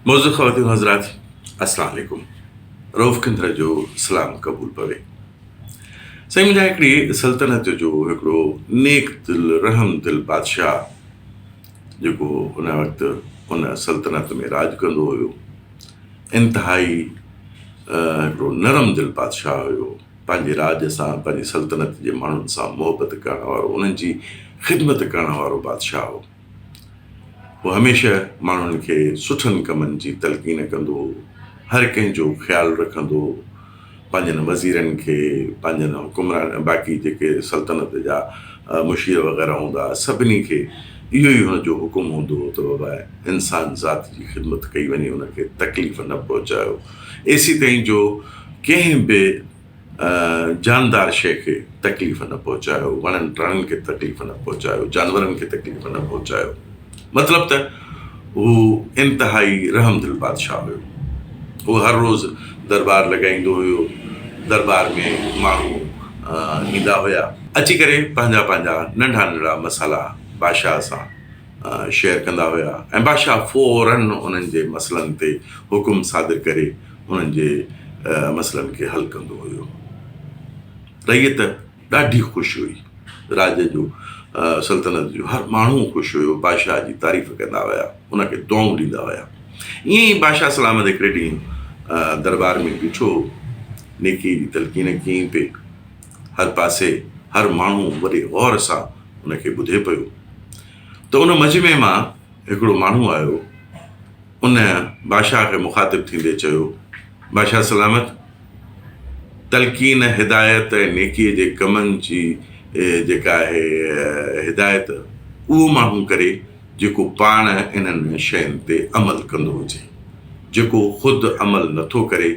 معزز خواتين و حضرات السلام عليڪم روف کندر جو سلام قبول پوي سائين منهنجا هڪڙي سلطنت جو هڪڙو نيڪ دل رحم دل بادشاهه جيڪو ان وقت ان سلطنت ۾ راج ڪندو هيو انتهائي هڪڙو نرم دل بادشاهه هيو پنهنجي راج سان پنهنجي سلطنت جي ماڻهن سان محبت ڪرڻ وارو انهن جي خدمت ڪرڻ وارو بادشاهه هو هو هميشه ماڻهن کي سٺن ڪمن جي تلقين ڪندو هو، هر ڪنهن جو خيال رکندو هو، پنهنجن وزيرن کي، پنهنجن حڪمرانن، باقي جيڪي سلطنت جا مشير وغيره هوندا هئا، سڀني کي اهو ئي هن جو حڪم هوندو هو ته بابا انسان ذات جي خدمت ڪئي وڃي، ان کي تڪليف نه پهچايو. ايسي تائين جو ڪنهن به جاندار شيء کي تڪليف نه پهچايو، وڻن ٽڻن کي تڪليف نه پهچايو، جانورن کي تڪليف نه پهچايو. مطلب ته هو انتهائي رحمدل بادشاهه هيو. هو هر روز دربار لڳائيندو هيو. دربار ۾ ماڻهو ايندا هيا. اچي ڪري پنهنجا پنهنجا ننڍا ننڍا مسئلا بادشاهه سان شيئر ڪندا هيا ۽ بادشاهه فورن انهن جي مسئلن تي حڪم صادر ڪري انهن جي مسئلن کي حل ڪندو هيو. رعيت ڏاڍي خوش هئي. راڄ جو سلطنت جو هر ماڻهو خوش هيو. بادشاهه جي تعريف ڪندا هيا. ان کي دعائون ڏيندا هيا. ائين ئي بادشاهه سلامت هڪڙي ڏينهن درٻار ۾ بيٺو نيڪيء جي تلقين ڪيائين پئي. هر پاسي هر ماڻهو وڏي غور سان ان کي ٻڌي پيو ته ان مجمعي مان هڪڙو ماڻهو آيو. ان بادشاهه کي مخاطب ٿيندي چيو، بادشاهه سلامت! تلقين هدايت ۽ نيڪيء جي ڪمن جي جيڪا آهي هدايت، اهو ماڻهو ڪري، جيڪو پاڻ انهن شين تي عمل ڪندو هجي. جيڪو خود عمل نه ٿو ڪري،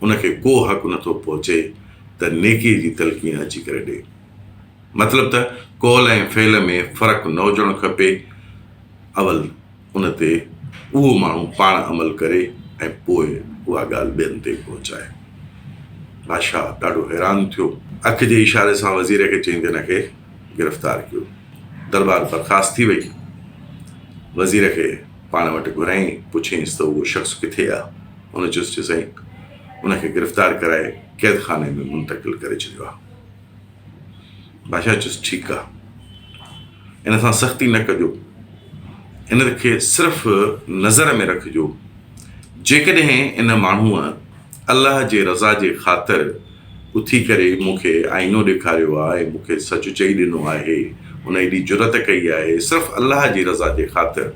ان کي ڪو حق نه ٿو پهچي ته نيڪيء جي تلقين اچي ڪري ڏئي. مطلب ته قول ۽ فعل ۾ فرق نه هجڻ کپي، اول! ان تي اهو ماڻهو پاڻ عمل ڪري ۽ پوء اها ڳالهه ٻين تائين پهچائي. بادشاهه ڏاڍو حيران ٿيو. اک جي اشاري سان وزير کي چئي تنهن کي گرفتار ڪيو. درٻار برخاست ٿي وئي. وزير کي پاڻ وٽ گهرائين، پڇيائينس ته اهو شخص ڪٿي آ؟ ان چيس چي سائين ان کي گرفتار ڪرائي قيدخاني ۾ منتقل ڪري ڇڏيو آ. بادشاهه چيس، ٺيڪ آ، ان سان سختي نه ڪجو، ان کي صرف نظر ۾ رکجو، جيڪڏهن ان ماڻهوء الله جي رضا جي خاطر اٿي ڪري مون کي آئينو ڏيکاريو آ ۽ مون کي سچ چئي ڏنو آهي، هن ايڏي جرئت ڪئي آهي صرف الله جي رضا جي خاطر،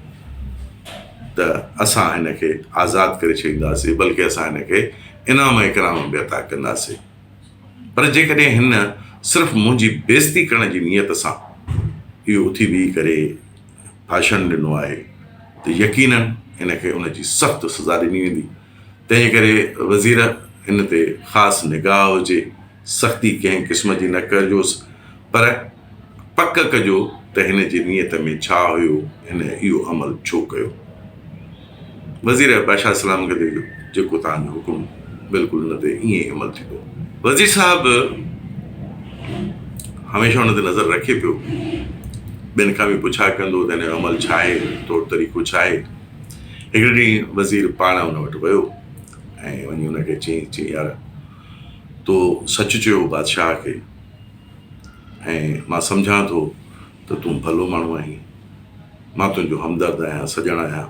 ته اسان هن کي آزاد ڪري ڇڏينداسين، بلڪه اسان هن کي انعام اڪرام به عطا ڪنداسين. پر جيڪڏهن هن صرف منهنجي بيعزتي ڪرڻ جي نيت سان اهو اٿي بيهي ڪري ڀاشڻ ڏنو آهي ته يقينن هن کي ان جي سخت سزا ڏني ويندي، تنهن ڪري وزير هن تي خاص نگاهه هجي، سختي ڪنهن قسم جي نه ڪرجوس پر پڪ ڪجو ته هن جي نيت ۾ ڇا هيو هن اهو عمل ڇو ڪيو. وزير بادشاهه سلام ڪندي چيو جيڪو توهان جو حڪم بلڪل ان تي ائين ئي عمل ٿيندو. وزير صاحب هميشه ان تي نظر رکي پيو ٻين کان به پڇا ڪندو ته هن جو عمل ڇا آهي طور طريقو ڇا آهي هڪڙي ڏينهن وزير پاڻ ان وٽ ويو ۽ وڃي ان کي چيائين چيائين يار تو سچ چيو بادشاهه کي ۽ مان سمجهان ٿو ته تون ڀلو ماڻهو آهين. مان تنهنجو همدرد آهيان، سڄڻ آهيان.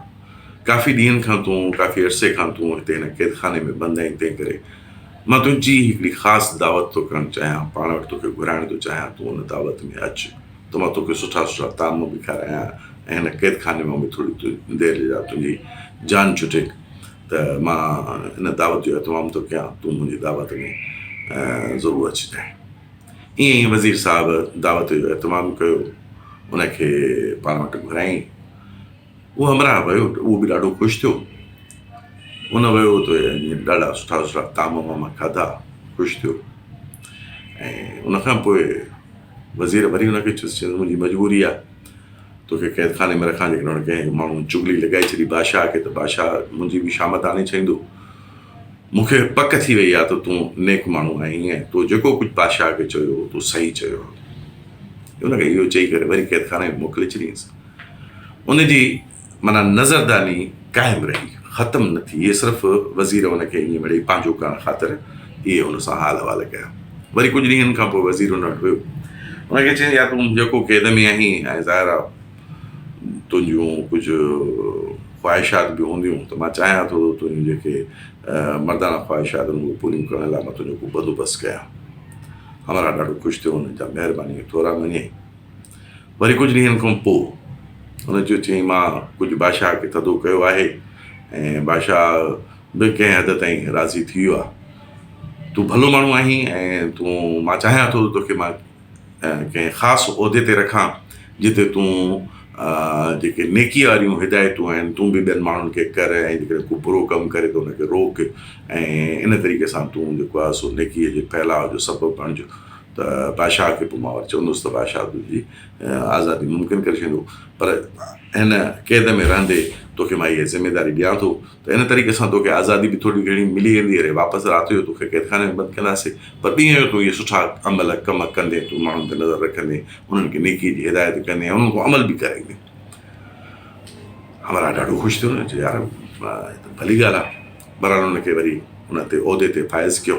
ڪافي ڏينهن کان تون، ڪافي عرصي کان تون هتي هن قيدخاني ۾ بند آهين، تنهنڪري مان تنهنجي هڪڙي خاص دعوت ٿو ڪرڻ چاهيان، پاڻ وٽ توکي گهرائڻ ٿو چاهيان، تون ان دعوت ۾ اچ ته مان توکي سٺا سٺا طعام به کارايان ۽ هن قيدخاني مان به ٿوري دير جي لاء تنهنجي جان ڇٽي. ته مان ان دعوت جو اهتمام ٿو ڪيان، تون منهنجي دعوت ۾ ضرور اچجانء. ائين ئي وزير صاحب دعوت جو اهتمام ڪيو، ان کي پاڻ وٽ گهرايائين. اهو همراهه ويو، اهو به ڏاڍو خوش ٿيو. ان ويو ته ڏاڍا سٺا سٺا طعام وعام کاڌا، خوش ٿيو ۽ ان کان پوء وزير وري ان کي چيس، چيس منهنجي مجبوري آهي، توکي قيدخاني ۾ رکان جيڪڏهن هن ڪنهن هڪ ماڻهو چغلي لڳائي ڇڏي بادشاهه کي ته بادشاهه منهنجي به شامت آڻي ڇڏيندو. مون کي پڪ ٿي وئي آهي ته تون نيڪ ماڻهو آهين ۽ تو جيڪو ڪجهه بادشاهه کي چيو هو تو صحيح چيو آهي. هن کي اهو چئي ڪري وري قيدخاني ۾ موڪلي ڇڏيائينس. ان جي معنيٰ نظرداني قائم رهي، ختم نه ٿي. ايسرف وزير ان کي ائين مڙيئي پنهنجو ڪرڻ خاطر اهي ان سان حال احوال ڪيا. وري ڪجهه ڏينهن کان پوء وزير ان وٽ ويو. ان کي چيائين، يار تون جيڪو قيد ۾ آهين ۽ ظاهر آ تنهنجون ڪجهه خواهشات به هونديون ته مان چاهيان ٿو ته تنهنجون جيڪي مرداڻا خواهشات آهن اهي پوريون ڪرڻ لاء مان تنهنجو ڪو بندوبست ڪيان. همراهه ڏاڍو خوش ٿيو. هن چيو، مهرباني ٿورا مڃين. وري ڪجهه ڏينهن کان پوء هن چيو چيائين مان ڪجهه بادشاهه کي ٿڌو ڪيو آهي ۽ بادشاهه به ڪنهن حد تائين راضي ٿي ويو آهي. تون ڀلو ماڻهو آهين ۽ تون مان چاهيان ٿو ته توکي مان ڪنهن خاص عهدي تي رکان جتي تون جيڪي نيڪي واريون هدايتون آهن تون به ٻين ماڻهن کي ڪر ۽ جيڪڏهن ڪو برو ڪم ڪري ته ان کي روڪ ۽ ان طريقي سان تون جيڪو آهي سو نيڪي جي ڦهلاء جو سبب بڻج. ته بادشاهه کي پماور چوندس ته بادشاهه تنهنجي آزادي ممڪن ڪري ڇڏيندو پر هن قيد ۾ رهندي توکي مان اها ذميداري ڏيان ٿو ته ان طريقي سان توکي آزادي به ٿوري گهڻي ملي ويندي اڙي واپس رات جو توکي قيدخاني ۾ بند ڪنداسين پر ڏينهن جو تون اهي سٺا عمل ڪم ڪندين تون ماڻهن تي نظر رکندين انهن کي نيڪي جي هدايت ڪندين انهن کان عمل به ڪرائيندين همراهه ڏاڍو خوش ٿيو نه چيو يار هي ته ڀلي ڳالهه آهي برحال ان کي وري ان تي عهدي تي فائز ڪيو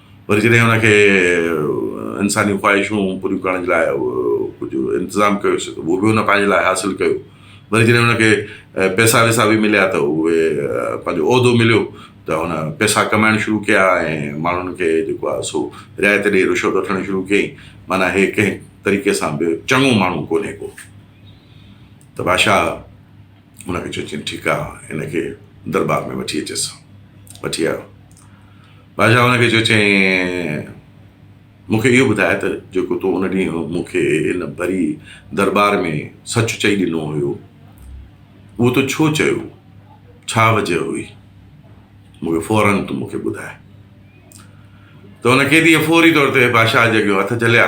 وري جڏهن هن کي انساني خواهشون پوريون ڪرڻ جي لاء ڪجهه انتظام ڪيوسي ته اهو به هن پنهنجي لاء حاصل ڪيو وري جڏهن هن کي پئسا وئسا به مليا ته اهي پنهنجو عهدو مليو ته هن پئسا ڪمائڻ شروع ڪيا ۽ ماڻهن کي جيڪو آهي سو رعايت ڏئي رشوت وٺڻ شروع ڪيائين معنيٰ هي ڪنهن طريقي سان به چڱو ماڻهو ڪونهي ڪو ته بادشاهه هن کي چيو، چيائين، ٺيڪ آ، هن کي درٻار ۾ وٺي اچيس. وٺي آيو. بادشاهه هن کي چيو، چيائين، مون کي اهو ٻڌاء ته جيڪو تو ان ڏينهن مون کي ان ڀري درٻار ۾ سچ چئي ڏنو هيو، اهو تو ڇو چيو؟ ڇا وجه هئي؟ مون کي فورن تون مون کي ٻڌاء. ته هن قيديء فوري طور تي بادشاهه جي اڳيون هٿ جهليا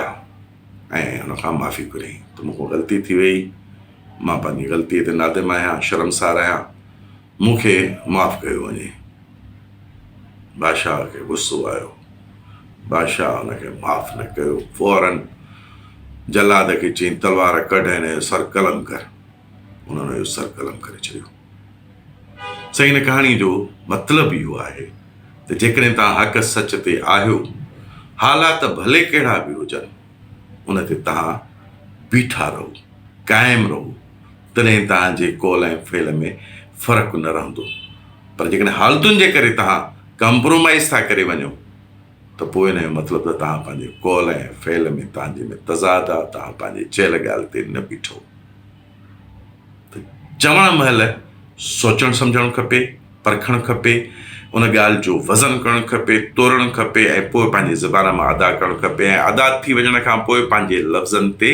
۽ هن کان معافي گهريائين ته مون کان غلطي ٿي ويئي، مان پنهنجي غلطيء تي نادم آهيان، شرمسار آهيان، مون کي معاف ڪيو وڃي. بادشاهه کي غصو آيو. بادشاهه هن کي معاف نه ڪيو. فوراً جلاد کي چيائين، تلوار ڪڍ ۽ هن جو سر قلم ڪر. هن هن جو سر قلم ڪري ڇڏيو. سائين هن ڪهاڻيء جو مطلب اهو آهي ته جيڪڏهن توهان حق سچ تي آهيو، حالات ڀلي ڪهڙا به هجن، ان تي توهان بيٺا رهو، قائم رهو، تڏهن توهان جي قول ۽ فعل ۾ فرق نه رهندو، پر جيڪڏهن حالتن جي ڪري توهان ڪمپرومائيز ٿا ڪري وڃو ته پوء ان جو مطلب ته توهان پنهنجي قول ۽ فعل ۾ توهان جي ۾ تضاد آ، توهان پنهنجي چيل ڳالهه تي نه بيٺو. ته چوڻ مهل سوچڻ سمجهڻ کپي، پرکڻ کپي، ان ڳالهه جو وزن ڪرڻ کپي، تورڻ کپي ۽ پوء پنهنجي زبان مان ادا ڪرڻ کپي ۽ ادا ٿي وڃڻ کان پوء پنهنجي لفظن تي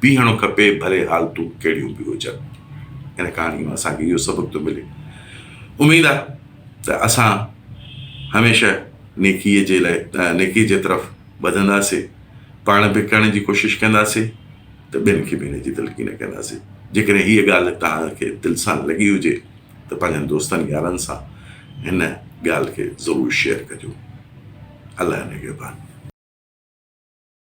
بيهڻو کپي ڀلي حالتون ڪهڙيون به هجن. ان ڪهاڻي مان اسان کي اهو سبق ٿو ملي. اميد آ ته اسان هميشه نيڪي جي لاء نيڪي جي طرف وڌندا سي پاڻ به ڪرڻ جي ڪوشش ڪندا سي. ته ٻين کي به ان جي تلقين ڪنداسين. جيڪڏهن هيء ڳالهه توهان کي دل سان لڳي هجي ته پنهنجن دوستن يارن سان هن ڳالهه کي ضرور شيئر ڪجو. الله نگهبان.